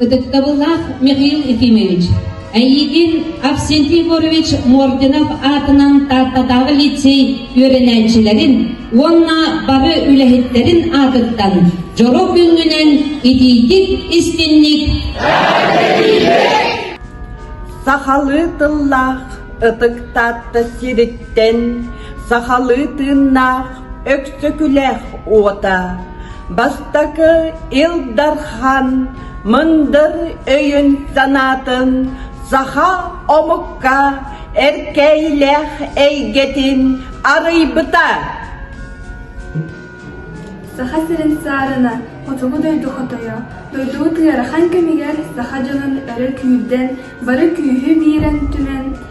Ытыктабыллаах Михаил Ефимович, эйиигин Авсентий Егорович Мординов аатынан Тааттатааҕы лицей үөрэнээччилэрин уонна бары үлэһиттэрин аатыттан дьоро күнгүнэн итиитик истинник Сахалыы тыллаах ытык Таатта сириттэн сахалыы тыыннаах Өксөкүлээх уота бастакы Ил Дархан мындыр өйүн-санаатын саха омукка эркэйилээх эйгэтин арыйбыта. Саха сирин саарына хотугу дойду хотойо, дойдубут ыарахан кэмигэр саха дьонун өрө күүрдэн, бары күүһү биэрэн түмэн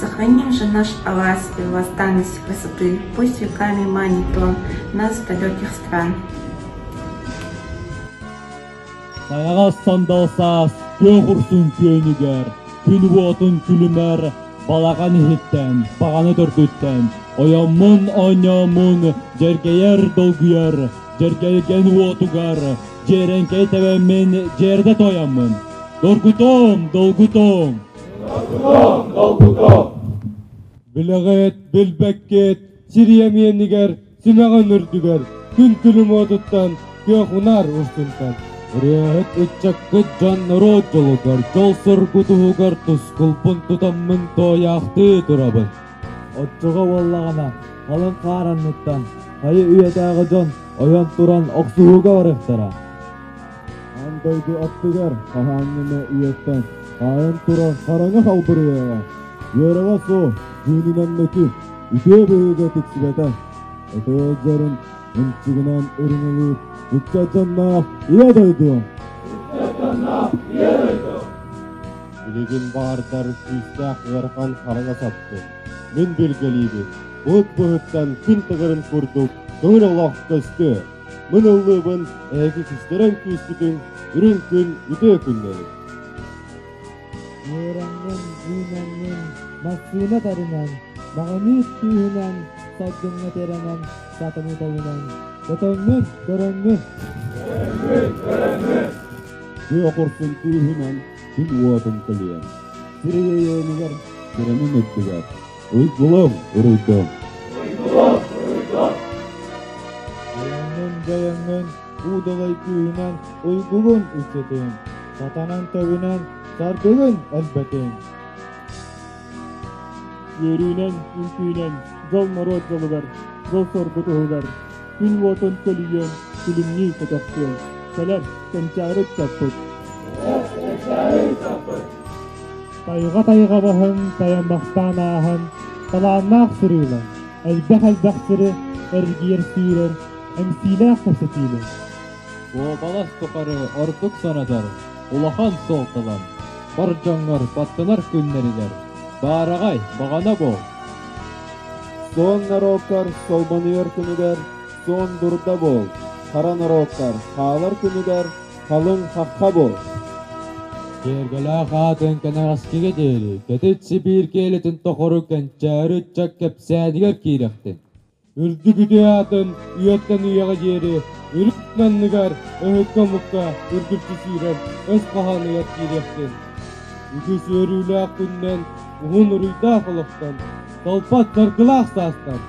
Сохраним же наш Алас и восстанность красоты, пусть веками манит он нас до далеких стран. Сайаҕас Сандалсаас күөх урсун күөнүгэр күн уотун күлүмэр балаҕан иһиттэн, баҕаны төргүттэн ойоммун оонньооммун дьэргэйэр долгуйар дьэргэлгэн уотугар дьиэрэҥкэй тэбэммин дьиэрдэ тойоммун. Доргутуом, долгутуом! Билэҕит, билбэккит сири эмиэнигэр симэҕин үрдүгэр күн күлүм отуттан күөх унаар устунтан Үрээһит ыччаккыт дьон норуот дьолугар, дьол-соргу туһугар тускулбун тутаммын тоойаахтыы турабын. Оччоҕо буоллаҕына, халыҥ хаар анныттан хайы үйэтээҕи дьон ойон туран охсуһууга барыахтара. Аан дойду аттыгар хаһааҥҥыны үйэттэн хаайан турар хараҥа халбырыйаҕа үөрэҕэ суох дьиэнинэн мөкү үтүө быһыыга тиксибэтэ өтө ыалдьарын ымчыгынан ырыҥылыыр икки дьонноох ийэ дойду билигин баардар сүүстээх ыарахан хараҥа сапты мин билгэлиибин булт быһыттан күн тыгырын курдук көҥүл олох көстүө Мин ыллыыбын эһиги кистэрэн күүспүтүн үрүҥ күн үтүө күннэрин. Үөрэҥҥин, үүнэҥҥин массыына тарынан, маҕаныыс күүһүнэн, саргыҥҥа тирэнэн, сатаныы тойунан, көтөҥҥүн, көрөҥҥүн. Күө окуркун күүһүнэн күн уотун көлүйэн, сир өйөөнүгэр, сирэнин үрдүгэр, Уйгулуҥ, уруйдуҥ. Уйгулуҥ, уруйдуҥ. Айаҥҥын-дьайаҥҥын уудалай күүһүнэн уйгугун үччэтиҥ, сатанан тэбинэн тардыгын элбэтиҥ. Үөрүүнэн, үҥкүүнэн дьол норуот дьолугар, дьол-соргу туһугар, күн уотун көлүйүөн, күлүмнүү көтөхтүөн, кэлэр кэнчээри саппыт. Кэлэр кэнчээри саппыт. Тайҕа-тайҕа маһын тайан махтаан ааһан, талааннаах сырыылар, элбэх-элбэх сиры эргийэр сүүрэр, эмсиилээх кэпсэтиилэр. Уобалас тухары ордук санатар улахан суолталар бар дьоҥҥор баттанар күннэригэр баараҕай баҕана буол. Суон норуоккар солбонуйар күнүгэр суон дурда буол, хара норуоттар хаалар күнүгэр Халыҥ хаппа бос. Киэргэлээх аатын кэнэҕэскигэ диэри кэтит Сибиир киэлитин тухары кэнчээри ыччат кэпсээтигэр киирэхтин. Үрдүк үтүө аатын үйэттэн үйэҕэ диэри үрүт анныгар өһүккэ-мукка үргүччү сүүрэр өс хаһааныгар киириэхтин. Үгүс үөрүүлээх күннэн уһун уруйдаах олохтон, толпат саргылаах саастан,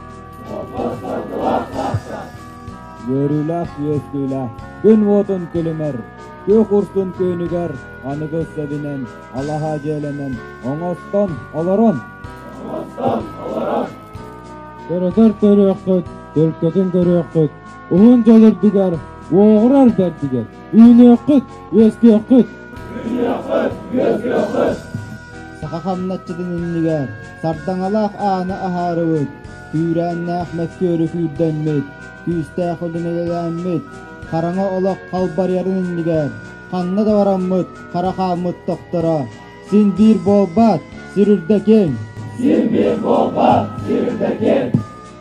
толпат саргылаах саастан, үөрүүлээх-үөскүүлээх күн уотун күлүмэр, күөх урсун күнүгэр аныгы сэбинэн алаһа дьиэлэнэн оҥостон олорон көрөтөр көрүөххүт төлкөтүн көрүөххүт уһун дьол үрдүгэр уоҕурар бэрдигэр үүнүөххүт үөскүөххүт үүнүөххүт үөскүөххүт саха хамначчытын иннигэр сардаҥалаах ааны аһаарыбыт Үүрээннээх мөккүөрү күүрдэммит, күүстээх үлүнэлэммит, хараҥа олох халбарыйарын иннигэр ханна да бараммыт хара хааммыт тохторо. Син биир буолбат, сир үрдэтин! Син биир буолбат, сир үрдэтин!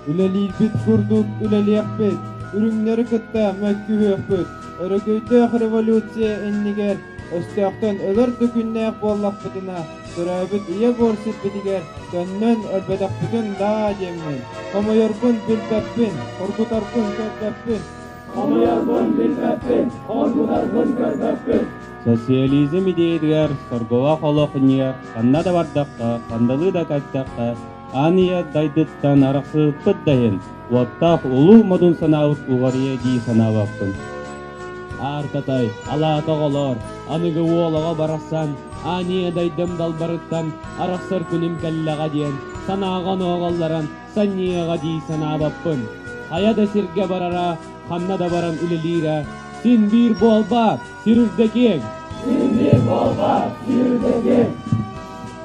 Үлэлиирбит курдук үлэлиэхпит, үрүҥнэри кытта мөккүһүөхпүт. Өрөгөйдөөх революция иннигэр өстөөхтөн өлөр да күннээх буоллахпытына, төрөөбүт ийэ буор сирбитигэр төннөн өлбөтөхпүтүн даа диэммин, хомойорбун билбэппин, хоргутарбын көрбөппүн. Хомойорбун билбэппин, хоргутарбын көрбөппүн. Социализм идеятыгар, сорголоох олох иннигэр ханна да бардахха, хандалыы да кайдахха, Аныа дайдыттан арахсыспыт да иһин, уоттаах улуу модун санаабыт уҕарыйа дии санаабаппын. Ааркатай, алаата оҕолоор, аныгы уолаҕа барахсан аныа дайдым далбарыттан арахсар күнүм кэллэҕэ диэн санааҕа онооҕоллорон санньыаҕа дии санаабаппын. Хайа да сиргэ барара, ханна да баран үлэлиирэ син биир буолбаат? Сүүрдэтиэҥ! Сүүрдүү буолбат! Сүүрдэтиэҥ!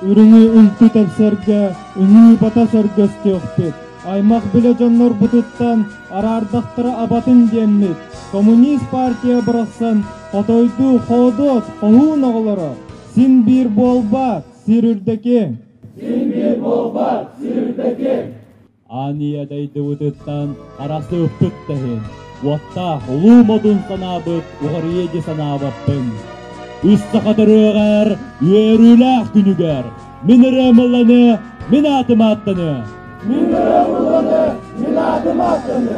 Үрүҥү үнтү тэпсэргэ, үҥүү бата сөргөстүөхпүт. Аймах-билэ дьоннорбутуттан араардахтара абатын диэммит, коммунист партия барахсан хотойду хоодуот хоһуун оҕолоро, син биир буолбат, сир үрдэтиэҥ! Син биир буолбат, сир үрдэтиэҥ! Аанньыйа дойдубутуттан Арасыыппыт да иһин уоттаах улуу модун санаабыт уларыйыа дии санаабаппын. Үс саха төрүөҕэр үөрүүлээх күнүгэр мин ырыам ылланы, мин аатым ааттаны. Мин ырыам ылланы, мин аатым ааттаны.